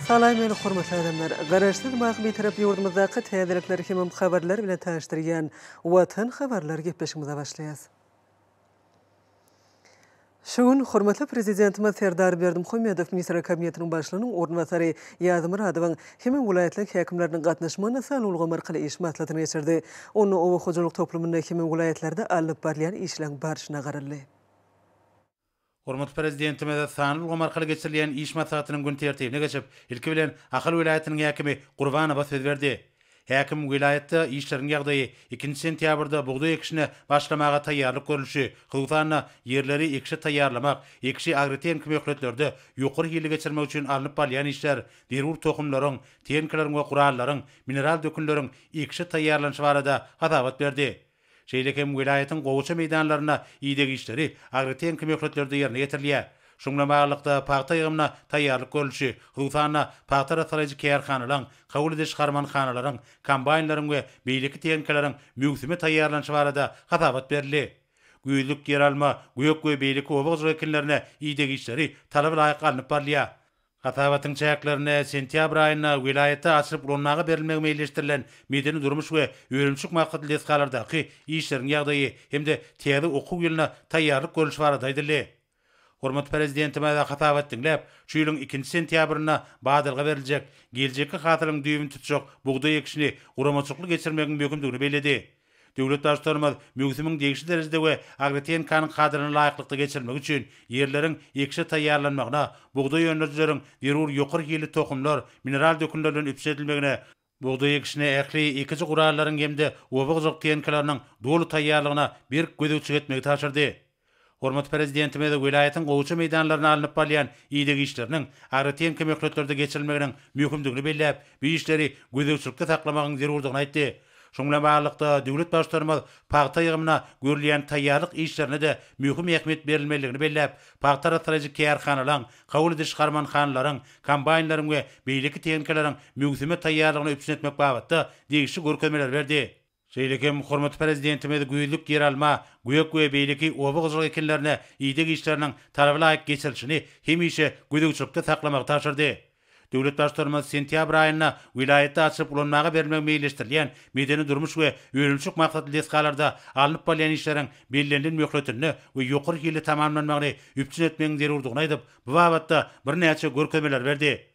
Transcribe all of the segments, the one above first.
Salam meni hormatly adamlar. Garaşsyz Wah Bitarap ýurdumyzdaky täzelikler hemem habarlar bilen tanyşdyrýan Watan habarlar gepleşigimize başlaýas. Şu gün hormatly Prezidentimiz Serdar Berdimuhamedow Ministrler Kabinetiniň Başlygynyň orunbasary Ýazmyradowyň hemem welaýatlaryň häkimleriniň gatnaşmagynda sanly ulgam arkaly iş maslahatyny geçirdi. Onda oba hojalyk toplumynda hemem welaýatlarda alnyp barylýan işleriň barşyna garaldy. Hormatly Prezidentimiz sanly ulgam arkaly geçirilýän iş maslahatynyň gün tertibine geçip, ilki bilen, Ahal welaýatynyň häkimi Gurbanowa söz berdi. Häkim welaýatda işleriň ýagdaýy, ikinji sentýabrda bugdaý ekişine başlamaga taýýarlyk görlüşi, hususan-da, ýerleri ekişe taýýarlamak, ekişi agrotehniki möhletlerde ýokary hilli geçirmek üçin alnyp barylýan işler, zerur tohumlaryň, tehnikalaryň we gurallaryň, mineral dökünleriň ekişe taýýarlanyşy barada hasabat berdi. Şeýle hem welaýatyň gowaça meýdanlarynda ideg işleri agrotehniki möhletlerde ýerine ýetirilýär. Şuň bilen baglylykda, pagta ýygymyna taýýarlyk görlüşi, hususan-da, pagta arassalaýjy kärhanalaryň, kabul ediş harmanhanalaryň, kombaýnlaryň we beýleki tehnikalaryň möwsüme taýýarlanyşy barada hasabat berildi. Güýzlük, ýeralma, gök we beýleki oba hojalyk ekinlerine ideg işleri talaba laýyk alnyp barylýar. Hasabatyň çäklerinde sentýabr aýynda welaýatda açylyp ulanmaga berilmegi meýilleşdirilen medeni-durmuş we önümçilik maksatly desgalardaky işleriň ýagdaýy hem-de täze okuw ýylyna taýýarlyk görlüşi barada aýdyldy. Hormatly Prezidentimiz hasabat diňläp, şu ýylyň ikinji sentýabrynda badalga beriljek, geljekki hasylyň düýbüni tutjak bugdaý ekişini guramaçylykly geçirmegiň möhümdigini belledi. Döwlet Baştutanymyz möwsümiň degişli derejede we agrotehnikanyň kadalaryna laýyklykda geçirilmegi üçin ýerleriň ekişe taýýarlanmagyna, bugdaý öndürijileriň zerur ýokary hilli tohumlar, mineral dökünler bilen üpjün edilmegine, bugdaý ekişine ähli ekiji gurallaryň hem-de oba hojalyk tehnikalarynyň doly taýýarlygyna berk gözegçilik etmegi tabşyrdy. Hormatly Prezidentimiz welaýatyň gowça meýdanlarynda alnyp barylýan ideg işleriniň agratehniki möhletlerde geçirilmeginiň möhümdigini belläp, bu işleri gözegçilikde saklamagyň zerurdygyny aýtdy. Şunuň bilen baglylykda, döwlet Baştutanymyz pagta ýygymyna görülýän taýýarlyk işlerine-de möhüm ähmiýet berilmelidigini belläp, pagta arassalaýjy kärhanalaryň, kabul ediş harmanhanalaryň, kombaýnlaryň we beýleki tehnikalaryň möwsüme taýýarlygyny üpjün etmek babatda degişli görkezmeleri berdi. Şeýle hem hormatly Prezidentimiz güýzlük ýeralma, gök we beýleki oba hojalyk ekinlerine ideg işleriniň talaba laýyk geçirilişini hemişe gözegçilikde saklamagy tabşyrdy. Döwlet Baştutanymyz sentýabr aýynda welaýatda açylyp ulanmaga berilmegi meýilleşdirilýän medeni-durmuş we önümçilik maksatly desgalarda alnyp barylýan işleriň bellenilen möhletinde we ýokary hilli tamamlanmagyny üpjün etmegiň zerurdygyny aýdyp, bu babatda birnäçe görkezmeler berdi.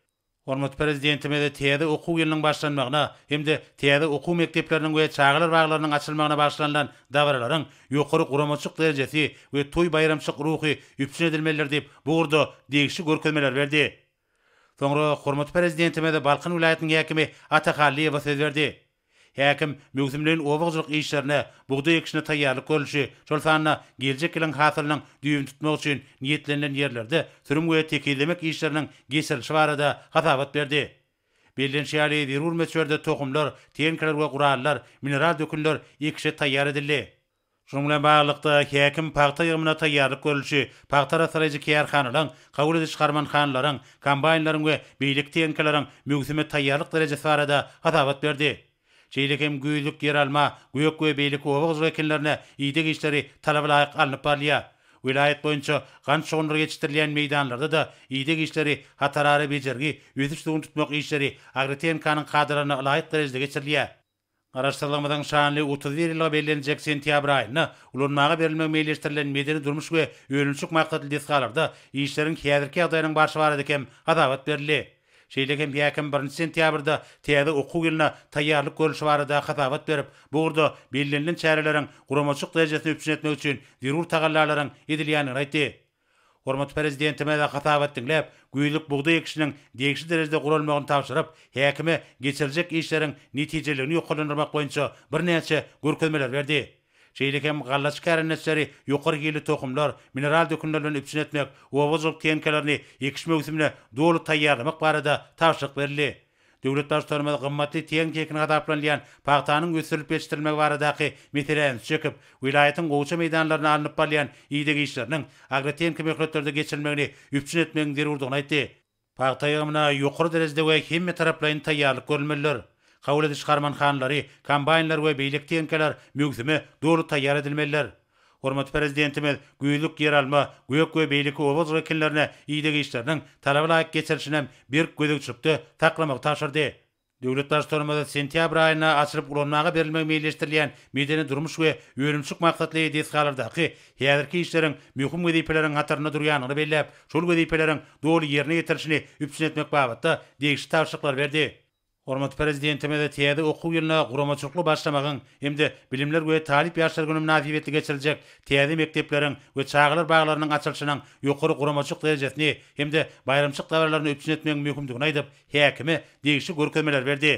Hormatly Prezidentimiz täze okuw ýylynyň başlanmagyna hem-de täze okuw mekdepleriniň we çagalar baglarynyň açylmagyna bagyşlanylan dabaralaryň ýokary guramaçylyk derejesi we toý-baýramçylyk ruhy üpjün edilmelidir diýip, bu ugurda degişli görkezmeleri berdi. Soňra hormatly Prezidentimiz Balkan welaýatynyň häkimi Ata Hallyýewa söz berdi. Häkim, möwsümleýin oba hojalyk işlerine, bugdaý ekişine taýýarlyk görlüşi, şol sanda geljek ýylyň hasylynyň düýbüni tutmak üçin niýetlenilen ýerlerde sürüm we tekizlemek işleriniň geçirilişi barada hasabat berdi. Bellenişi ýaly, zerur möçberde tohumlar, tenkeler we gurallar, mineral dökünler ekişe taýýar edildi. Şunuň bilen baglylykda, häkim pagta ýygymyna taýýarlyk görlüşi, pagta arassalaýjy kärhanalaryň, kabul ediş harmanhanalaryň, kombaýnlaryň we beýleki tehnikalaryň möwsüme taýýarlyk derejesi barada hasabat berdi. Şeýle hem güýzlük ýeralma, gök we beýleki oba-gurluşyk ekinlerine ideg işleri talaba laýyk alnyp barylýar. Welaýat boýunça gant şugundyry ýetişdirilýän meýdanlarda-da ideg işleri, hatarara bejergi, ösüş-suwuny tutmak işleri agrotehnikanyň kadalaryna ylaýyk derejede geçirilýär. Garaşsyzlygymyzyň şanly otuz bir ýyllygy bellenjek sentýabr aýynda ulanmaga berilmegi meýilleşdirilen medeni-durmuş we önümçilik maksatly desgalarda işleriň häzirki ýagdaýynyň barşy barada hem hasabat berildi. Şeýle hem häkim birinji sentýabrda täze okuw ýylyna taýýarlyk görlüşi barada hasabat berip, bu ugurda bellenilen çäreleriň guramaçylyk derejesini üpjün etmek üçin zerur tagallalaryň edilýändigini aýtdy. Hormatly Prezidentimize hasabat diňläp, güýzlük bugdaý ekişiniň degişli derejede guralmagyny tabşyryp, häkime geçiriljek işleriň netijeliligini ýokarlandyrmak boýunça birnäçe görkezmeler berdi. Şeýle hem gallaçy kärendeçileri ýokary hilli tohumlar, mineral dökünler bilen üpjün etmek, oba hojalyk tehnikalaryny ekiş möwsümine doly taýýarlamak barada tabşyryk berildi. Döwlet Baştutanymyz gymmatly tehnik-ekini hasaplanylýan pagtanyň ösdürilip ýetişdirilmegi baradaky meselä üns çekip, welaýatyň gowça meýdanlarynda alnyp barylýan ideg işleriniň agrotehniki möhletlerde geçirilmegini üpjün etmegiň zerurdygyny aýtdy. Pagta ýygymyna ýokary derejede we hemmetaraplaýyn taýýarlyk görülmelidir. Kabul ediş harmanhanalary, kombaýnlar we beýleki tehnikalar möwsüme doly taýýar edilmelidir. Hormatly Prezidentimiz güýzlük ýeralma, gök we beýleki oba-zg ekinlerini ideg işleriniň talaba laýyk geçirilişinem berk gözegçilikde saklamagy tabşyrdy. Döwlet Baştutanymyz sentýabr aýynda açylyp ulanmaga berilmegi meýilleşdirilýän medeni-durmuş we önümçilik maksatly desgalardaky häzirki işleriň möhüm wezipeleriň hatarynda durýandygyny belläp, şol wezipeleriň doly ýerine ýetirilişini üpjün etmek babatda degişli tabşyryklary berdi. Hormatly Prezidentimize täze okuw ýylyna guramaçylykly başlamagyň hem-de Bilimler we talyp ýaşlar güni mynasybetli geçiriljek täze mekdepleriň we çagalar baglarynyň açylyşynyň ýokary guramaçylyk derejesini hem-de baýramçylyk dabaralaryny üpjün etmegiň möhümdigini aýdyp, häkime degişli görkezmeleri berdi.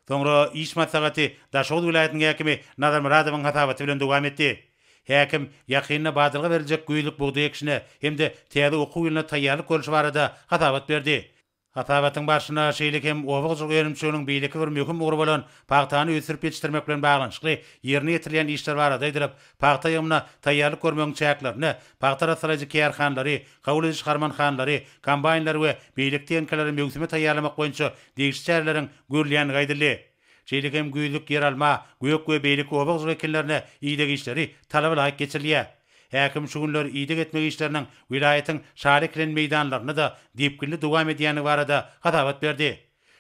Soňra iş maslahaty Daşoguz welaýatynyň häkimi Nazar Myradowyň hasabaty bilen dowam etdi. Häkim ýakynda badalga beriljek güýzlük bugdaý ekişine hem-de täze okuw ýylyna taýýarlyk görlüşi barada hasabat berdi. Hasabatyň barşynda şeýle hem oba hojalyk önümçiliginiň beýleki bir möhüm ugry bolan pagtany ösdürip ýetişdirmek bilen baglanyşykly ýerine ýetirilýän işler barada aýdylyp, pagta ýygymyna taýýarlyk görmegiň çäklerinde pagta arassalaýjy kärhanalary, kabul ediş harmanhanalary, kombaýnlary we beýleki tehnikalary möwsüme taýýarlamak boýunça degişli çäreleriň görülýändigi aýdyldy. Şeýle hem güýzlük ýeralma, gök we beýleki oba gyzlyk ekinlerine ideg işleri talabalaýyk geçirilýär. Häkim şu günler ideg etmek işleriniň welaýatyň şaly ekilen meýdanlarynda-da depginli dowam edýändigi barada hasabat berdi.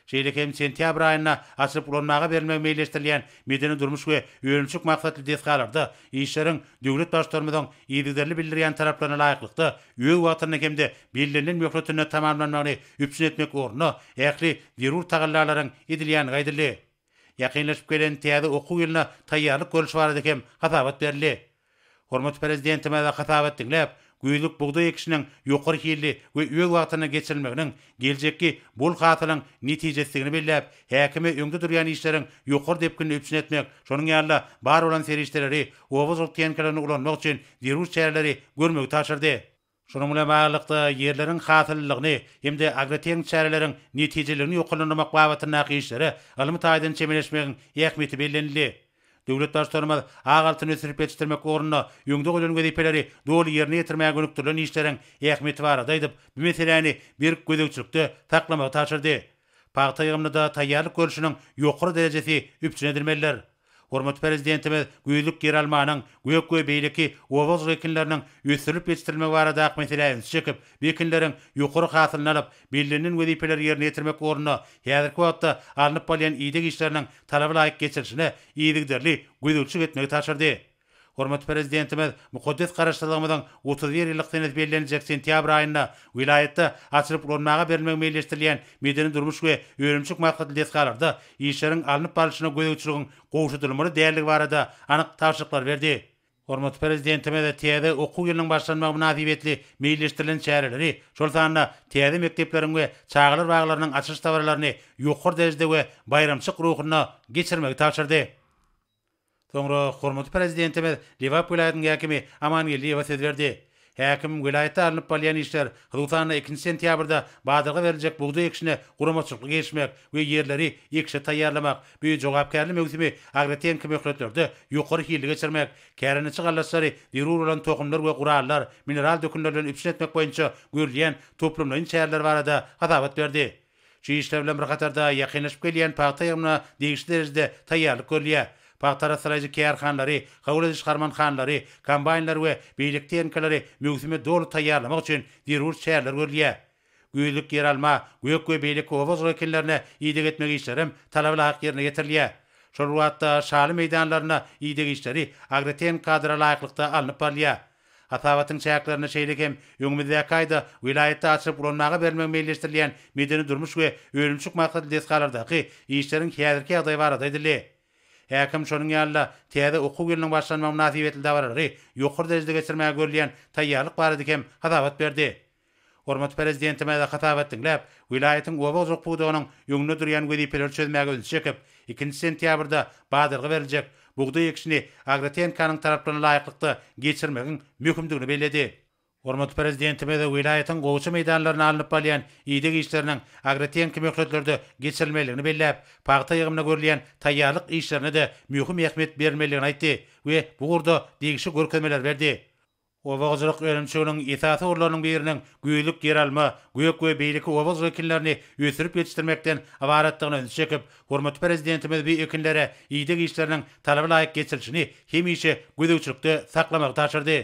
Şeýle hem sentýabr aýynda açylyp ulanmaga berilmegi meýilleşdirilýän medeni-durmuş we önümçilik maksatly desgalarda Işleriň döwlet Baştutanymyzyň yzygiderli bildirýän talaplaryna laýyklykda, öz wagtynda hem-de bellenilen möhletinde tamamlanmagyny üpjün etmek ugrunda ähli zerur tagallalaryň edilýändigi aýdyldy. Ýakynlaşyp gelen täze okuw ýylyna taýýarlyk görlüşi barada hem hasabat berildi. Hormatly Prezidentimize hasabat diňläp, Güýzlük bugdaý ekişiniň ýokary hilli we öz wagtynda geçirilmeginiň geljekki bol hasylyň netijesidigini belläp, häkime öňde durýan işleriň ýokary depginini üpjün etmek, şonuň ýaly-da bar bolan serişdeleri, oba hojalyk tehnikalaryny ulanmak üçin zerur çäreleri görmegi tabşyrdy. Şunuň bilen baglylykda, ýerleriň hasyllylygyny hem-de agrotehniki çäreleriň netijeliligini ýokarlandyrmak babatyndaky işlere ylmy taýdan çemeleşmegiň ähmiýeti bellenildi. Döwlet Baştutanymyz ak altyny ösdürip ýetişdirmek ugrunda öňde goýlan wezipeleri doly ýerine ýetirmäge gönükdirilen işleriň ähmiýeti barada aýdyp, bu meseläni berk gözegçilikde saklamagy tabşyrdy. Pagta ýygymyna-da taýýarlyk görlüşiniň ýokary derejesi üpjün edilmelidir. Hormatly Prezidentimiz güýzlük ýeralmanyň, gök we beýleki oba-hojalyk ekinleriniň ösdürilip ýetişdirilmegi barada ak meselä üns çekip, Wekilleriň ýokary hasylyny alyp, bellenilen wezipeleri ýerine ýetirmek ugrunda häzirki wagtda alnyp barylýan ideg işleriniň talaba laýyk geçirilişine yzygiderli gözegçilik etmegi tabşyrdy. Hormatly Prezidentimiz mukaddes Garaşsyzlygymyzyň otuz bir ýyllyk senesi belleniljek sentýabr aýynda welaýatda açylyp ulanmaga berilmegi meýilleşdirilýän medeni-durmuş we önümçilik maksatly desgalarda işleriň alnyp barlyşyna gözegçiligiň gowşadylmaly däldigi barada anyk tabşyryklar berdi. Hormatly Prezidentimiz täze okuw ýylynyň başlanmagy mynasybetli meýilleşdirilen çäreleri, şol sanda täze mekdepleriň we çagalar baglarynyň açylyş dabaralaryny ýokary derejede we baýramçylyk ruhunda geçirmegi tabşyrdy. Soňra hormatly Prezidentimiz Lebap welaýatynyň häkimi Amangeldiýewe söz berdi. Häkim, welaýatda alnyp balýan işler, hususan-da, ikinji sentýabrda badalga beriljek bugdaý ekişine guramaçylykly girişmek we ýerleri ekişe taýýarlamak, bu jogapkärli möwsümi agrotehniki möhletlerde ýokary hilli geçirmek, kärendeçi gallaçylary zerur bolan tohumlar we gurallar, mineral dökünler bilen üpjün etmek boýunça görülýän toplumlaýyn çäreler barada hasabat berdi. Şu işler bilen bir hatarda ýakynlaşyp gelýän pagta ýygymyna degişli derejede taýýarlyk görülýär. Pagta arassalaýjy kärhanalary, kabul ediş harmanhanalary, kombaýnlary we beýleki tehnikalary möwsüme doly taýýarlamak üçin zerur çäreler görülýär. Güýzlük ýeralma, gök we beýleki oba-ozg ekinlerine ideg etmek işlerem talabalaýyk ýerine ýetirilýär. Şol bir wagtda, şaly meýdanlarynda ideg işleri agrotehniki kadra laýyklykda alnyp barylýar. Hasabatyň çäklerinde şeýle hem öňümizdäki aýda welaýatda açylyp ulanmaga berilmegi meýilleşdirilýän medeni-durmuş we önümçilik maksatly desgalardaky işleriň häzirki ýagdaýy barada aýdyldy. Häkim şonuň ýaly-da täze okuw ýylynyň başlanmagy mynasybetli dabaralary ýokary derejede geçirmäge görülýän taýýarlyk barada hem hasabat berdi. Hormatly Prezidentimize hasabat diňläp, welaýatyň oba hojalyk pudagynyň öňünde durýan wezipeleri çözmäge ünsi çekip, ikinji sentýabrda badalga beriljek bugdaý ekişini AgroTNK-nyň talaplaryna laýyklykda geçirmegiň möhümdigini belledi. Hormatly Prezidentimiz welaýatyň gowça meýdanlarynda alnyp balýan ideg işleriniň agrotehniki möhletlerde geçirilmeliligini belläp, pagta ýygymyna görülýän taýýarlyk işlerine-de möhüm ähmiýet berilmeliligini aýtdy we bu ugurda degişli görkezmeler berdi. Oba-hojalyk önümçiliginiň esasy ugurlarynyň biriniň güýzlük ýeralma, gök we beýleki oba-hojalyk ekinlerini ösdürip ýetişdirmekden ybaratdygyna ünsi çekip, hormatly Prezidentimiz bu ekinlere ideg işleriniň talaba laýyk geçirilişini hemişe gözegçilikde saklamagy tabşyrdy.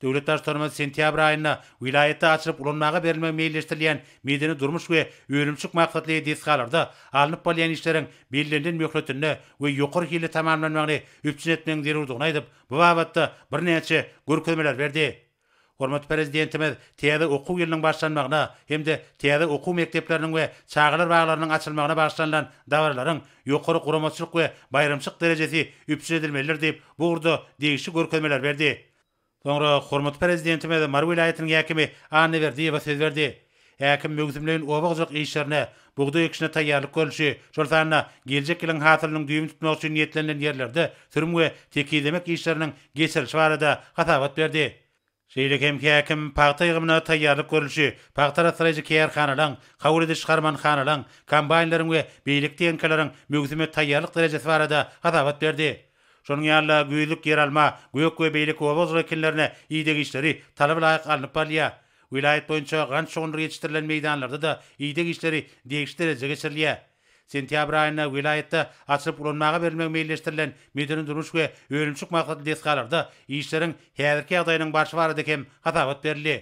Döwlet Baştutanymyz sentýabr aýynda welaýatda açylyp ulanmaga berilmegi meýilleşdirilýän medeni-durmuş we önümçilik maksatly desgalarda alnyp barylýan işleriň bellenilen möhletinde we ýokary hilli tamamlanmagyny üpjün etmegiň zerurdygyny aýdyp, bu babatda birnäçe görkezmeler berdi. Hormatly Prezidentimiz täze okuw ýylynyň başlanmagyna hem-de täze okuw mekdepleriniň we çagalar baglarynyň açylmagyna bagyşlanylan dabaralaryň ýokary guramaçylyk we baýramçylyk derejesi üpjün edilmelidir diýip, bu ugurda degişli görkezmeler berdi. Soňra hormatly Prezidentimiz Mary welaýatynyň häkimi Anna Berdiýewa söz berdi. Häkim möwsümleýin oba hojalyk işlerine, bugdaý ekişine taýýarlyk görlüşi, şol sanda geljek ýylyň hasylynyň düýbüni tutmak üçin niýetlenilen ýerlerde sürüm we tekizlemek işleriniň geçirilişi barada hasabat berdi. Şeýle hem häkim pagta ýygymyna taýýarlyk görlüşi, pagta arassalayjy kärhanalaryň, kabul ediş-harmanhanalaryň, kombaýnlaryň we beýleki tehnikalaryň möwsüme taýýarlyk derejesi barada hasabat berdi. Şonuň ýaly-da güýzlük ýeralma, gök we beýleki oba hojalyk ekinlerine ideg işleri talaba laýyk alnyp barylýar. Welaýat boýunça gant şugundyr ýetişdirilen meýdanlarda-da ideg işleri degişli derejede geçirilýär. Sentýabr aýynda welaýatda açylyp ulanmaga berilmegi meýilleşdirilen medeni-durmuş we önümçilik maksatly desgalarda işleriň häzirki ýagdaýynyň barşy barada hem hasabat berildi.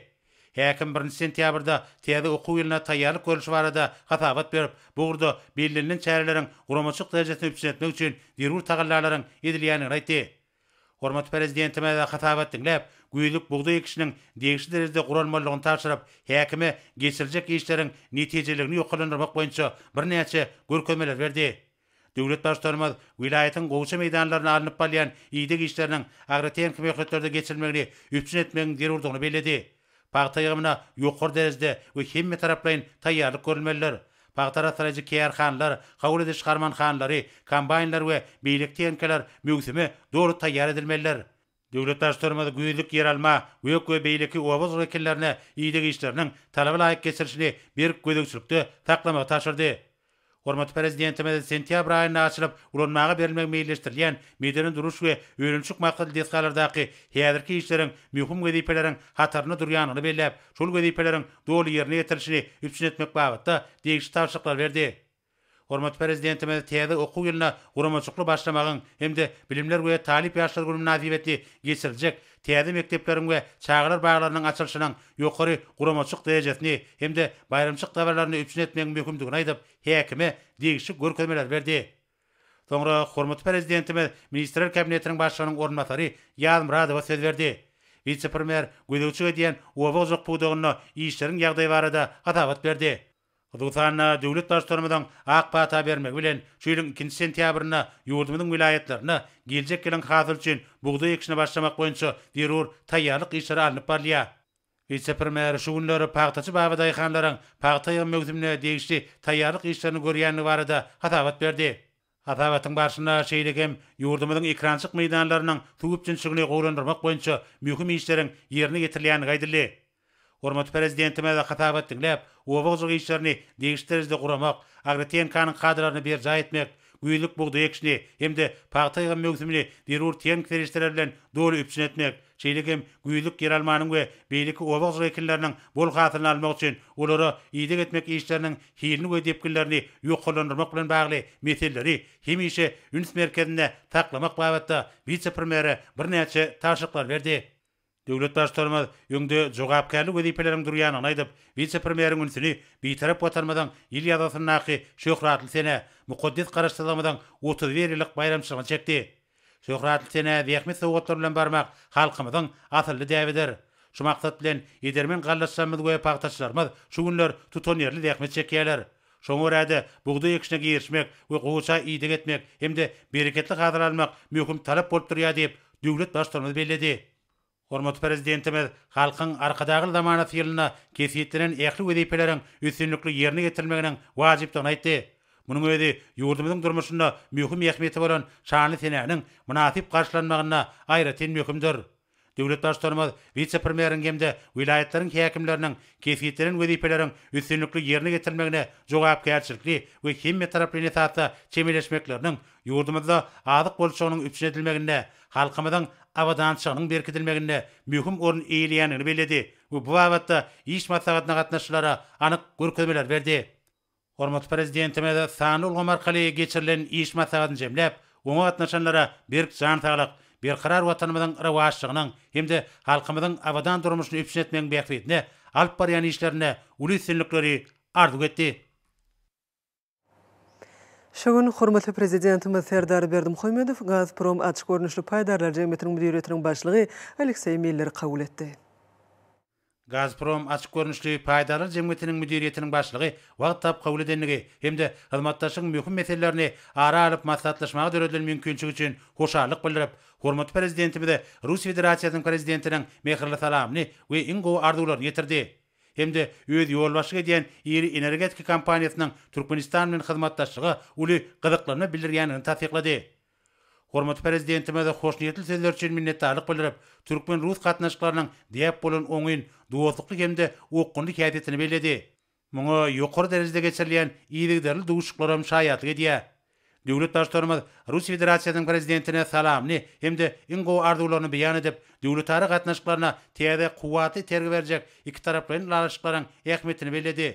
Häkim birinji sentýabrda täze okuw ýylyna taýýarlyk görlüşi barada hasabat berip, bu ugurda bellenilen çäreleriň guramaçylyk derejesini üpjün etmek üçin zerur tagallalaryň edilýändigini aýtdy. Hormatly Prezidentimiz hasabat diňläp, güýzlük bugdaý ekişiniň degişli derejede guralmalydygyny tabşyryp, häkime geçiriljek işleriň netijeliligini ýokarlandyrmak boýunça birnäçe görkezmeler berdi. Döwlet Baştutanymyz welaýatyň gowşa meýdanlarynda alnyp barylýan ideg işleriniň agrotehniki möhletlerde geçirilmegini üpjün etmegiň zerurdygyny belledi. Pagta ýygymyna ýokary derejede we hemmetaraplaýyn taýýarlyk görülmelidir. Pagta arassalaýjy kärhanalar, kabul ediş harmanhanalary, kombaýnlar we beýleki tehnikalar möwsüme doly taýýar edilmelidir. Döwlet Baştutanymyz güýzlük ýeralma, gök we beýleki oba-ozal ekinlerini ideg işleriniň talaba laýyk geçirilişini berk gözegçilikde saklamagy tabşyrdy. Hormatly Prezidentimiz sentýabr aýynda açylyp ulanmaga berilmegi meýilleşdirilýän medeni duruş we önümçilik maksatly desgalardaky häzirki işleriň möhüm wezipeleriň hatarynda durýandygyny belläp, şol wezipeleriň doly ýerine ýetirilişini üpjün etmek babatda degişli tabşyryklary berdi. Hormatly Prezidentimiz täze okuw ýylyna guramaçykly başlamagyň hem-de Bilimler we talyp ýaşlar güni mynasybetli geçiriljek täze mekdepleriň we çagalar baglarynyň açylyşynyň ýokary guramaçyk derejesini hem-de baýramçyk dabaralaryny üpjün etmegiň möhümdigini aýdyp, häkime degişli görkezmeleri berdi. Soňra hormatly Prezidentimiz Ministrler Kabinetiniň Başlygynyň orunbasary Ýazmyradowa söz berdi. Wise-premýer gözegçilik edýän oba-ojak pudagynda işleriň ýagdaýy barada hasabat berdi. Hususan-da, döwlet Baştutanymyzyň ak pata bermegi bilen, şu ýylyň ikinji sentýabrynda ýurdumyzyň welaýatlarynda geljek ýylyň hasyly üçin bugdaý ekişine başlamak boýunça zerur taýýarlyk işleri alnyp barylýar. Wise-premýer şu günler pagtaçy babadaýhanlaryň pagta ýygym möwsümine degişli taýýarlyk işlerini görýändigi barada hasabat berdi. Hasabatyň barşynda şeýle hem ýurdumyzyň ekrançyk meýdanlarynyň suw üpjünçiligini gowulandyrmak boýunça möhüm işleriň ýerine ýetirilýändigi aýdyldy. Hormatly Prezidentimiz hasabat diňläp, oba hojalyk işlerini degişli derejede guramak, AgroTNK-nyň kadalaryny berjaý etmek, güýzlük bugdaý ekişini hem-de pagta ýygym möwsümini zerur tehniki serişdeler bilen doly üpjün etmek, Şeýle hem güýzlük ýeralmanyň we beýleki oba ozugy ekinleriniň bol hasylyny almak üçin olara ideg etmek işleriniň hilini we depginlerini ýokarlandyrmak bilen bagly meseleleri hemişe üns merkezinde saklamak babatda wise-premýere birnäçe tabşyryklary berdi. Döwlet Baştutanymyz öňde jogapkärli wezipeleriň durýandygyny aýdyp, wise-premýeriň ünsüni Bitarap Watanymyzyň ýyl ýazgysyndaky şöhratly sene, mukaddes Garaşsyzlygymyzyň otuz bir ýyllyk baýramçylygyna çekdi. Şöhratly senä zähmet sowgatlary bilen barmak halkymyzyň asylly däbidir. Şu maksat bilen edermen gallaçlarymyz we pagtaçylarymyz şu günler tutanýerli zähmet çekýärler. Şoňa görä-de, bugdaý ekişine girişmek we gowaça ideg etmek hem-de bereketli hasyl almak möhüm talap bolup durýar diýip, döwlet Baştutanymyz belledi. Hormatly Prezidentimiz Halkyň Arkadagly zamanasy ýylynda kesgitlenen ähli wezipeleriň üstünlikli ýerine ýetirilmeginiň wajypdygyny aýtdy. Munuň özi ýurdumyzyň durmuşynda möhüm ähmiýeti bolan şanly senäniň mynasyp garşylanmagynda aýratyn möhümdir. Döwlet Baştutanymyz wise-premýeriň hem-de welaýatlaryň häkimleriniň kesgitlenen wezipeleriň üstünlikli ýerine ýetirilmegine jogapkärçilikli we hemmetaraplaýyn esasda çemeleşmekleriniň ýurdumyzda azyk bolçulygynyň üpjün edilmeginde halkymyzyň abadançylygynyň berkidilmeginde möhüm orun eýeleýändigini belledi we bu babatda iş maslahatyna gatnaşyjylara anyk görkezmeler berdi. Hormatly Prezidentimiz sanly ulgam arkaly geçirilen iş maslahatyny jemläp, oňa gatnaşanlara berk jan saglyk, berkarar Watanymyzyň rowaçlygynyň hem-de halkymyzyň abadan durmuşyny üpjün etmegiň bähbidine alyp barýan işlerinde uly üstünlikleri arzuw etdi. Şu gün hormatly Prezidentimiz Serdar Berdimuhamedow Gazprom açyk görnüşli paýdarlar jemgyýetiniň müdiriýetiniň başlygy Alekseý Milleri kabul etdi. Gazprom açyk görnüşli paýdarlar jemgyýetiniň müdiriýetiniň başlygy wagt tap kabul edendigi hem-de hyzmatdaşlygyň möhüm meselelerini ara alyp maslahatlaşmaga döredilen mümkinçilik üçin hoşallyk bildirip, hormatly Prezidentimize Russiýa Federasiýasynyň Prezidentiniň mähirli salamyny we iň gowy arzuwlaryny ýetirdi. hem-de öz ýolbaşçylyk edýän iri energetika kompaniýasynyň Türkmenistan bilen hyzmatdaşlyga uly gyzyklanma bildirýändigini tassyklady. Hormatly Prezidentimize hoşniýetli sözleri üçin minnetdarlyk bildirip, türkmen-rus gatnaşyklarynyň däp bolan oňyn, dostlukly hem-de okgunly häsiýetini belledi. Muňa ýokary derejede geçirilýän yzygiderli duşuşyklaram şaýatlyk edýär. Döwlet Baştutanymyz Russiýa Federasiýasynyň Prezidentine salamyny hem-de iň gowy arzuwlaryny beýan edip, döwletara gatnaşyklaryna täze kuwwatly itergi berjek ikitaraplaýyn ylalaşyklaryň ähmiýetini belledi.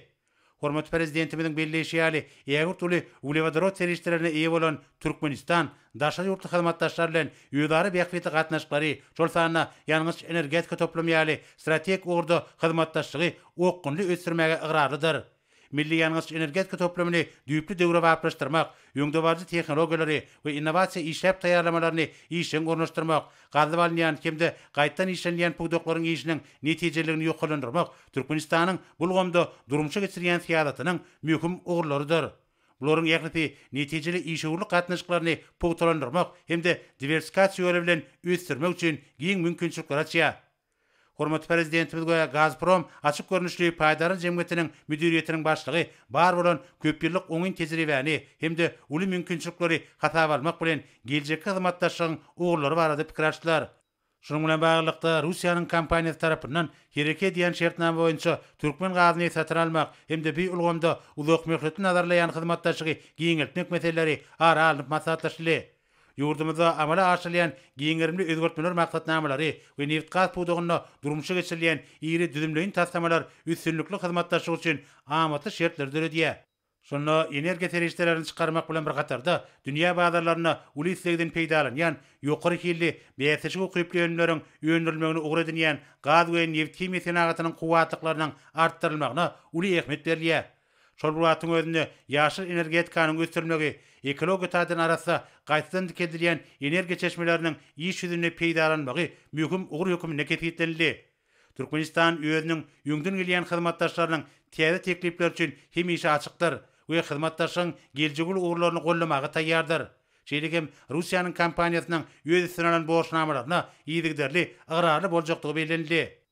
Hormatly Prezidentimiziň belleýşi ýaly, ägirt uly uglewodorod serişdelerine eýe bolan Türkmenistan daşary ýurtly hyzmatdaşlar bilen özara bähbitli gatnaşyklary, şol sanda ýangyç-energetika toplumy ýaly strategik ugurda hyzmatdaşlygy okgunly ösdürmäge ygrarlydyr. Milli ýangyç-energetika toplumyny düýpli döwrebaplaşdyrmak, öňdebaryjy tehnologiýalary we innowasiýa işläp taýýarlamalaryny işjeň ornaşdyrmak, gazyp alynýan hem-de gaýtadan işlenilýän pudaklaryň işiniň netijeliligini ýokarlandyrmak Türkmenistanyň bu ulgamda durmuşa geçirýän syýasatynyň möhüm ugurlarydyr. Bularyň ählisi netijeli işewürlik gatnaşyklaryny pugtalandyrmak hem-de diwersifikasiýa ýoly bilen ösdürmek üçin giň mümkinçilikleri açýar. Hormatly Prezidentimiz we Gazprom açyk görnüşli paýdarlar jemgyýetiniň müdiriýetiniň başlygy bar bolan köpýyllyk oňyn tejribäni hem-de uly mümkinçilikleri hasaba almak bilen, geljekki hyzmatdaşlygyň ugurlary barada pikir alşdylar. Şunuň bilen baglylykda, Russiýanyň kompaniýasy tarapyndan Hereke diýen şertnama boýunça türkmen gazyny satyn almak hem-de bu ulgamda uzakmöhletli nazarlaýan hyzmatdaşlygy giňeltmek meseleleri ara alnyp maslahatlaşyldy. Ýurdumyzda amala aşyrylýan giň gerimli özgertmeler maksatnamalary we nebitgaz pudagynda durmuşa geçirilýän iri düzümleýin taslamalar üstünlikli hyzmatdaşlyk üçin amatly şertleri döredýär. Şunda energiýa serişdelerini çykarmak bilen bir hatarda, dünýä bazarlarynda uly islegden peýdalanýan, ýokary hilli, bäsleşige ukyply önümleriň öndürilmegini ugur edinýän gaz we nebithimiýa senagatynyň kuwwatlyklarynyň artdyrylmagyna uly ähmiýet berilýär. Şol bir wagtyň özünde, ýaşyl energetikanyň ösdürilmegi, ekologiýa taýdan arassa, gaýtadan dikeldilýän energiýa çeşmeleriniň iş ýüzünde peýdalanylmagy möhüm ugur hökmünde kesgitlenildi. Türkmenistan özüniň öňden gelýän hyzmatdaşlarynyň täze teklipleri üçin hemişe açykdyr we hyzmatdaşlygyň geljegi uly ugurlaryny goldamaga taýýardyr. Şeýle hem Russiýanyň kompaniýasynyň öz üstüne alan borçnamalaryna yzygiderli ygrarly boljakdygy bellenildi.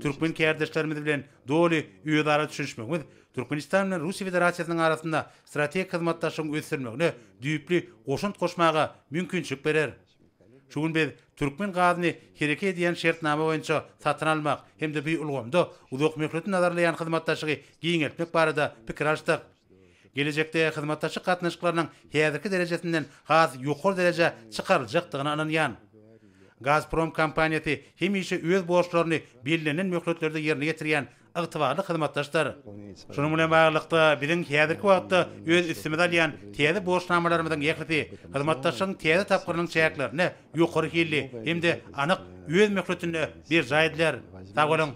Türkmen kärdeşlerimiz bilen doly özara düşünişmegimiz Türkmenistan bilen Russiýa Federasiýasynyň arasynda strategik hyzmatdaşlygyň ösdürilmegine düýpli goşant goşmaga mümkinçilik berer. Şu gün biz türkmen gazyny hereket edýän şertnama boýunça satyn almak hem-de bu ulgamda uzakmöhletli nazarlaýan hyzmatdaşlygy giňeltmek barada pikir alyşdyk. Gelejekde hyzmatdaşlyk gatnaşyklarynyň häzirki derejesinden has ýokary derejä çykaryljakdygyna ynanýan. Gazprom kompaniýasy hemişe öz borçlaryny bellenilen möhletlerde ýerine ýetirýän ygtybarly hyzmatdaşdyr. Şunuň bilen baglylykda, biziň häzirki wagtda öz üstümize alýan täze borçnamalarymyzyň ählisi hyzmatdaşlygyň täze tapgyrynyň çäklerinde ýokary hilli hem-de anyk, öz möhletinde berjaý ediler. Sag boluň!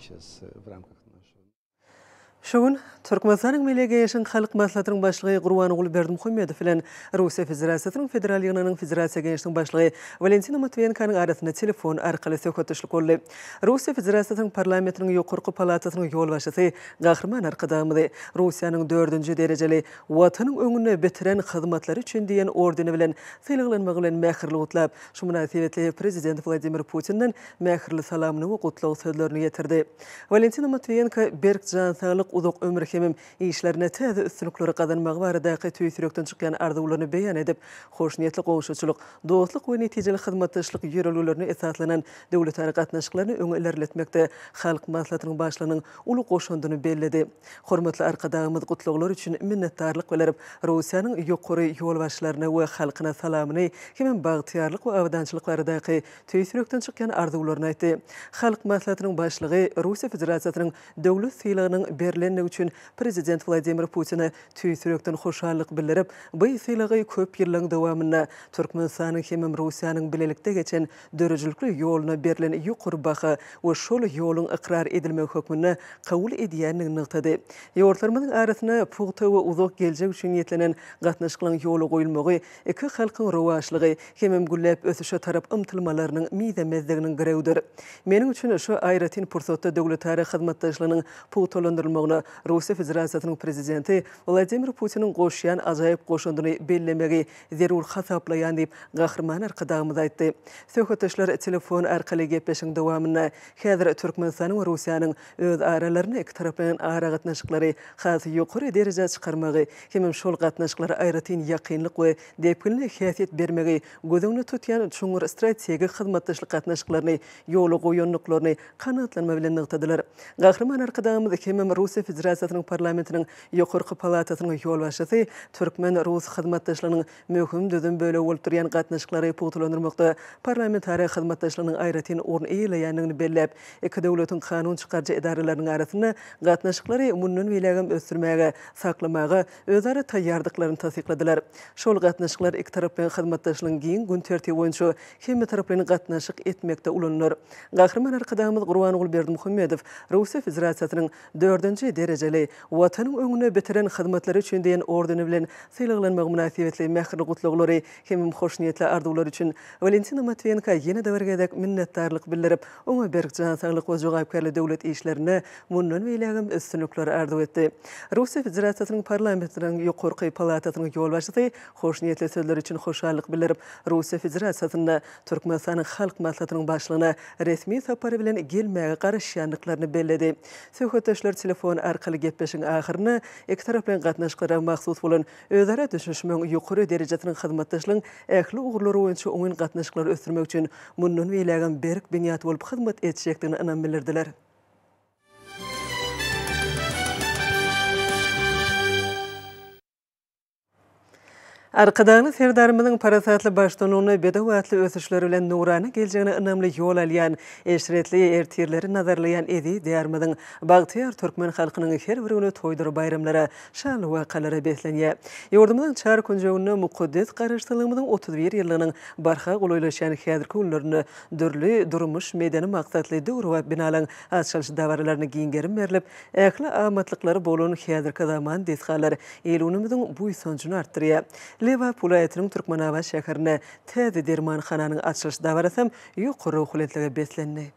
Şu gün Türkmenistanyň Milli Geňeşiniň Halk Maslahatynyň Başlygy Gurbanguly Berdimuhamedow bilen Russiýa Federasiýasynyň Federal Ýygnagynyň Federasiýa Geňeşiniň Başlygy Walentina Matwiýenkanyň arasynda telefon arkaly söhbetdeşlik boldy. Russiýa Federasiýasynyň Parlamentiniň Ýokarky palatasynyň ýolbaşçysy Gahryman Arkadagymyzy Russiýanyň dördünji derejeli Watanyň öňünde bitiren hyzmatlary üçin diýen ordeni bilen sylaglanmagy bilen mähirli gutlap, şu mynasybetli Prezident Wladimir Putinden mähirli salamyny we gutlag sözlerini ýetirdi. Walentina Matwiýenko berk jan saglyk, uzak ömür hemem işlerinde täze üstünlikleri gazanmagy baradaky tüýs ýürekden çykýan arzuwlaryny beýan edip, hoşniýetli goňşuçylyk, dostluk we netijeli hyzmatdaşlyk ýörelgelerine esaslanan döwletara gatnaşyklaryny öňe ilerletmekde Halk Maslahatynyň Başlygynyň uly goşandyny belledi. Hormatly Arkadagymyz gutlaglar üçin minnetdarlyk bildirip, Russiýanyň ýokary ýolbaşçylaryna we halkyna salamyny hemem bagtyýarlyk we abadançylyk baradaky tüýs ýürekden çykýan arzuwlaryny aýtdy. Halk Maslahatynyň Başlygy Russiýa Federasiýasynyň Döwlet sylagynyň berlendigi üçin Prezident Wladimir Putine tüýs ýürekden hoşallyk bildirip, bu sylagy köp ýyllaryň dowamynda Türkmenistanyň hemem Russiýanyň bilelikde geçen döredijilikli ýoluna berlen ýokary baha we şol ýoluň ykrar edilmegi hökmünde kabul edýändigini nygtady. Ýurtlarymyzyň arasynda pugta we uzak geljek üçin niýetlenen gatnaşyklaryň ýola goýulmagy iki halkyň rowaçlygy hemem gülläp ösüşe tarap ymtylmalarynyň mizemezliginiň girewidir. Meniň üçin şu aýratyn pursatda döwletara hyzmatdaşlygynyň pugtalandyrylmagyna Russiýa Federasiýasynyň Prezidenti Wladimir Putiniň goşýan ajaýyp goşandyny bellemegi zerur hasaplaýan diýip, Gahryman Arkadagymyz aýtdy. Söhbetdeşler telefon arkaly gepleşigiň dowamynda häzir Türkmenistanyň we Russiýanyň öz aralarynda ikitaraplaýyn aragatnaşyklary has ýokary derejä çykarmagy hemem şol gatnaşyklara aýratyn ýakynlyk we depginli häsiýet bermegi göz öňünde tutýan çuňňur strategik hyzmatdaşlyk gatnaşyklaryny ýola goýandyklaryny kanagatlanma bilen nygtadylar. Gahryman Arkadagymyz hemem Russiýa Federasiýasynyň Parlamentiniň Ýokarky palatasynyň ýolbaşçysy türkmen-rus hyzmatdaşlygynyň möhüm düzüm bölegi bolup durýan gatnaşyklary pugtalandyrmakda parlamentara hyzmatdaşlygynyň aýratyn orun eýeleýändigini belläp, iki döwletiň kanun çykaryjy edaralarynyň arasynda gatnaşyklary mundan beýlägem ösdürmäge, saklamaga özara taýýardyklaryny tassykladylar. Şol gatnaşyklar ikitaraplaýyn hyzmatdaşlygyň giň gün tertibi boýunça hemmetaraplaýyn gatnaşyk etmekde ulanylar. Gahryman Arkadagymyz Gurbanguly Berdimuhamedow Russiýa Federasiýasynyň dördünji derejeli Watanyň öňünde bitiren hyzmatlary üçin diýen ordeni bilen sylaglanmagy mynasybetli mähirli gutlaglary hemem hoşniýetli arzuwlary üçin Walentina Matwienka ýene-de bir gezek minnetdarlyk bildirip, oňa berk jan saglyk we jogapkärli döwlet işlerinde mundan beýlägem üstünlikler arzuw etdi. Russiýa Federasiýasynyň Parlamentiniň ýokarky palatasynyň ýolbaşçysy hoşniýetli sözleri üçin hoşallyk bildirip, Russiýa Federasiýasynda Türkmenistanyň Halk Maslahatynyň Başlygyna resmi sapar bilen gelmäge garaşýandyklaryny belledi. Söhbetdeşler telefon arkaly gepleşigiň ahyrynda ikitaraplaýyn gatnaşyklara mahsus bolan özara düşünişmegiň ýokary derejesiniň hyzmatdaşlygyň ähli ugurlary boýunça oňyn gatnaşyklary ösdürmek üçin mundan beýlägem berk binýat bolup hyzmat etjekdigine ynam bildirdiler. Arkadagly Serdarymyzyň parasatly baştunygyny, bedew atly ösüşleri bilen nurana geljegine ynamly ýol alýan, eşretli ertirleri nazarlaýan eziz Diýarymyzyň bagtyýar türkmen halkynyň her bir güni toýdura-baýramlara, şanly wakalara beslenýär. Ýurdumyzyň çar künjeginde mukaddes Garaşsyzlygymyzyň otuz bir ýyllygynyň barha golaýlaşýan häzirki günlerinde dürli durmuş-medeni maksatly döwrebap binalaryň açylyş dabaralaryna giň gerim berlip, Ähli amatlyklary bolan häzirki zaman desgalar il-günümiziň buýsanjyny artdyrýar. Lebap welaýatynyň Türkmenabat şäherinde täze dermanhananyň açylyş dabarasam ýokary ruhubelentlige beslendi.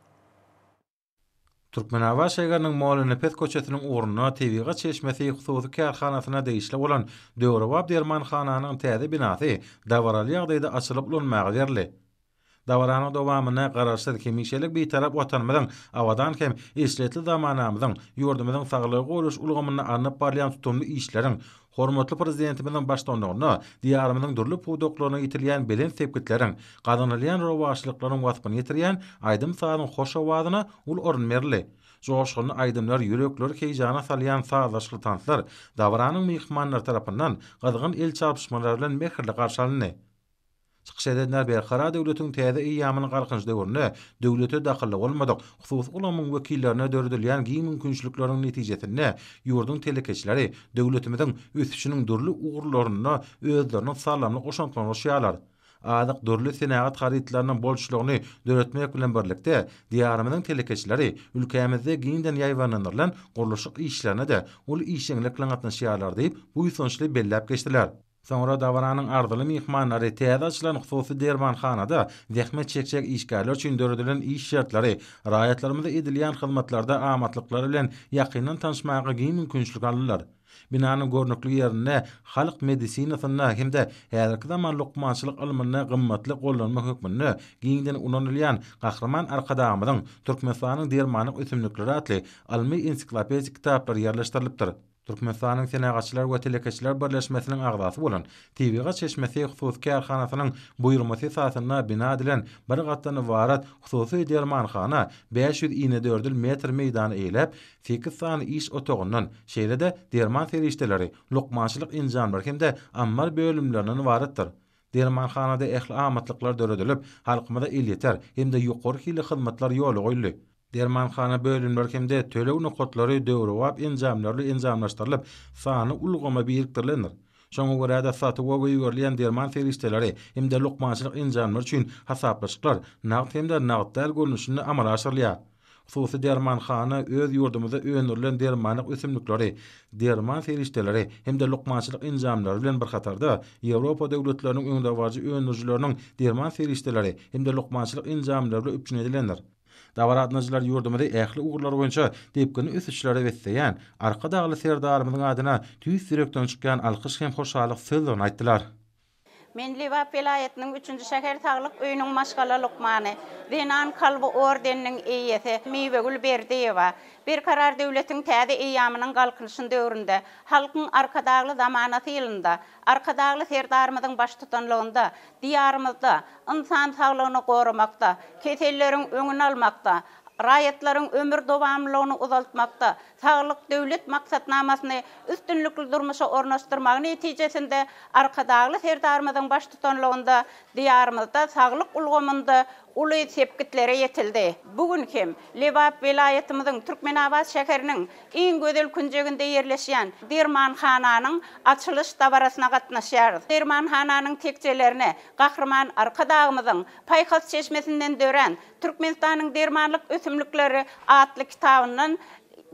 Türkmenabat şägeriniň Mollanepes köçesiniň ugrunda Tebigat çeşmesi hususy kärhanasyna degişli bolan döwrebap dermanhananyň täze binasy dabaraly ýagdaýda açylyp ulanmaga berildi. Dabaranyň dowamynda Garaşsyz, hemişelik Bitarap Watanymyzyň, abadan hem eşretli zamanamyzyň, ýurdumyzyň saglygy goraýyş ulgamynda alnyp barylýan tutumly işleriň, hormatly Prezidentimiziň baştutanlygynda Diýarymyzyň dürli pudaklarynda ýetirilýän belent sepgitleriň, gazanylýan rowaçlyklaryň waspyny ýetirýän aýdym-sazyň hoş owazyna uly orun berildi. Joşgunly aýdymlar, ýürekleri heýjana salýan sazlaşykly tanslar dabaranyň myhmanlary tarapyndan gyzgyn el çarpyşmalar bilen mähirli garşy alyndy. Çykyş edenler Berkarar döwletiň täze eýýamynyň Galkynyş döwründe döwlete dakylly bolmadyk hususy ulgamyň wekillerine döredilýän giň mümkinçilikleriň netijesinde ýurduň telekeçileri döwletimiziň ösüşiniň dürli ugurlarynda özleriniň saldamly goşantlaryny goşýarlar. Azyk, dürli senagat harytlarynyň bolçulygyny döretmek bilen birlikde, Diýarymyzyň telekeçileri ülkämizde giňden ýaýbaňlandyrylan gurluşyk işlerine-de uly işjeňlik bilen gatnaşýarlar diýip, buýsançly belläp geçdiler. Soňra dabaranyň arzyly myhmanlary täze açylan hususy dermanhanada zähmet çekjek işgärler üçin döredilen iş şertleri, raýatlarymyza edilýän hyzmatlarda amatlyklary bilen ýakyndan tanyşmaga giň mümkinçilik aldylar. Binanyň görnükli ýerinde halk medisinasynda hem-de häzirki zaman lukmançylyk ylmynda gymmatly gollanma hökmünde giňden ulanylýan Gahryman Arkadagymyzyň Türkmenistanyň dermanlyk ösümlikleri atly ylmy-ensiklopedik kitaplary ýerleşdirilipdir. Türkmenistanyň Senagatçylar we telekeçiler birleşmesiniň agzasy bolan Tebigat çeşmesi hususy kärhanasynyň buýurmasy esasynda bina edilen bir gatdan ybarat hususy dermanhana bäş ýüz inedördül metr meýdany eýeläp, sekiz sany iş otagyndan, şeýle-de derman serişdeleri, lukmançylyk enjamlary hem-de ammar bölümlerinden ybaratdyr. Dermanhanada ähli amatlyklar döredilip, halkymyza elýeter hem-de ýokary hilli hyzmatlar ýola goýuldy. Dermanhana bölümleri hem-de töleg nokatlary döwrebap enjamlarly enjamlaşdyrylyp, sanly ulgama birikdirilendir. Şoňa görä-de, satuwa goýberilýän derman serişdeleri hem-de lukmançylyk enjamlary üçin hasaplaşyklar nagt hem-de nagt däl görnüşinde amala aşyrylýar. Hususy dermanhana öz ýurdumyzda öndürilen dermanlyk ösümlikleri, derman serişdeleri hem-de lukmançylyk enjamlary bilen bir hatarda, Ýewropa döwletleriniň öňdebaryjy öndürijileriniň derman serişdeleri hem-de lukmançylyk enjamlary bilen üpjün edilendir. Dabaraatnacylar ýurdumyzy ähli ugurlar boýunça depginli ösüşlere besleýän Arkadagly Serdarymyzyň adyna tüýs ýürekden çykýan alkyş hem hoşallyk sözlerini aýtdylar. Men Lebap welaýatynyň üçünji şäher saglyk öýüniň maşgala lukmany, Zenan kalby ordeniniň eýesi Miwegül Berdiýewa. Berkarar döwletiň täze eýýamynyň Galkynyşyn döwründe, Halkyň Arkadagly zamanasy ýylynda, Arkadagly Serdarymyzyň baştutanlygynda Diýarymyzda ynsan saglygyny goramakda, keselleriň öňüni almakda, raýatlaryň ömür dowamlylygyny uzaltmakda Saglyk Döwlet maksatnamasyny üstünlikli durmuşa ornaşdyrmagy netijesinde Arkadagly Serdarymyzyň baştutanlygynda Diýarymyzda saglyk ulgamynda uly sepgitlere ýetildi. Bu gün hem Lebap welaýatymyzyň Türkmenabat şäheriniň iň gözel künjeginde ýerleşýän dermanhananyň açylyş dabarasyna gatnaşýarys. Dermanhananyň tekjelerine Gahryman Arkadagymyzyň paýhas çeşmesinden dörän Türkmenistanyň dermanlyk ösümlikleri atly kitabyndan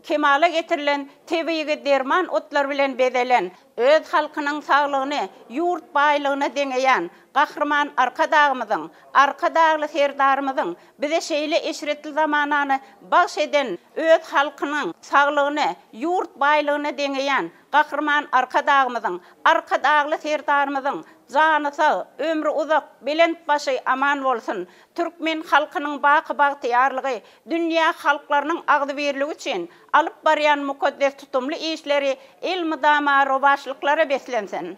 kemala getirilen tebigy derman otlar bilen bezelen, öz halkynyň saglygyny ýurt baýlygyna deňeýän Gahryman Arkadagymyzyň, Arkadagly Serdarymyzyň bize şeýle eşretli zamanany bagş eden öz halkynyň saglygyny ýurt baýlygyna deňeýän Gahryman Arkadagymyzyň, Arkadagly Serdarymyzyň jany sag, ömri uzak, belent başy aman bolsun! Türkmen halkynyň baky bagtyýarlygy, dünýä halklarynyň agzybirligi üçin alyp barýan mukaddes tutumly işleri elmydama rowaçlyklara beslensin!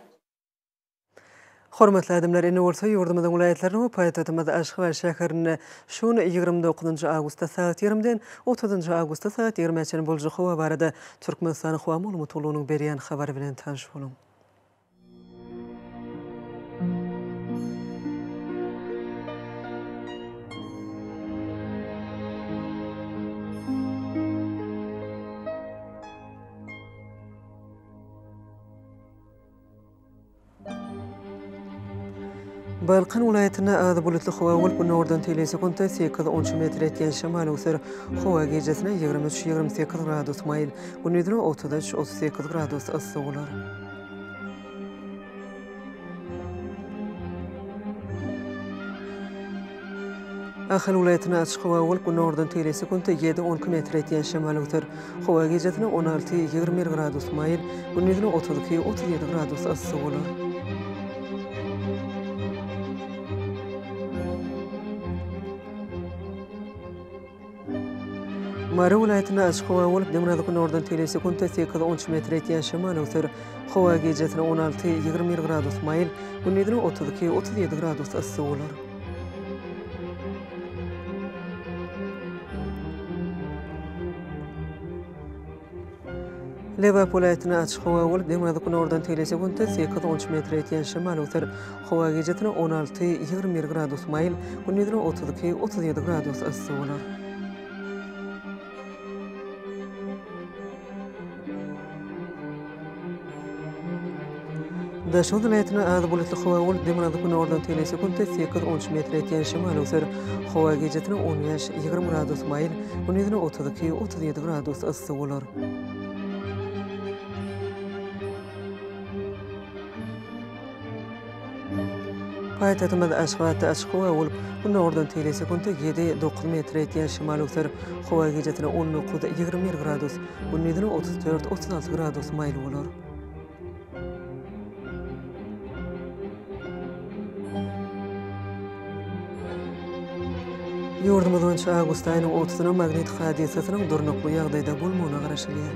Hormatly adamlar, ine bolsa ýurdumyzyň welaýatlaryny we paýtagtymyz Aşgabat şäherinde şu gün ýigrimi dokuzynjy awgustda sagat ýigrimiden otuzynjy awgustda sagat ýigrimä çenli boljak howa barada Türkmenistanyň howa maglumat gullugynyň berýän habary bilen tanyş boluň. Balkan welaýatynda azy bulutly howa bolup, günordan teýlegi sekuntda sekiz, on üç metr etýän şemal öwser. Howa gijesine ýigrimi üç, ýigrimi sekiz gradus maýyl, gündizine otuz üç, otuz sekiz gradus yssy bolar. Ahal welaýatynda açyk howa bolup, günordan tegelek sekuntda ýedi-onki metr etýän şemal öwser. Howa gijasynda on alty-ýigrimi bir gradus maýyl, gündizine otuz iki-otuz ýedi gradus yssy bolar. Mary welaýatynda açyk howa bolup, demirgazyk günordan tegelýän sekuntda sekiz onç metr ýetýän şemal öwser. Howa gijesine on alty, ýigrimi bir gradus maýyl, gündizine otuz iki, otuz ýedi gradus yssy bolar. Lebap welaýatynda açyk howa bolup, demirgazyk-günordan tegelese günde sekiz on üç metre ýetýän şemal öser. Howa gijesi on alty, ýigrimi bir gradus maýyl, gündizi otuz iki, otuz ýedi gradus yssy bolar. Daşoguz welaýatynda az bulutly howa bolup, demirgazyk günordan tegelýän sekuntda sekiz, on üç metr ýetýän şemal öwser. Howa gijasynda on bäş, ýigrimi gradus maýyl, gündizine otuz iki, otuz ýedi gradus yssy bolar. Paýtagtymyz Aşgabatda açyk howa bolup, gün owurdan teýle sekuntda ýedi, dokuz metr ýetýän şemal öwser. Howa gijesine on dokuz, ýigrimi bir gradus, gündizine otuz dört, otuz alty gradus maýyl bolar. Ýurdumyz boýunça awgust aýynyň otuzyna magnit hadysasynyň durnukly ýagdaýda bolmagyna garaşylýar.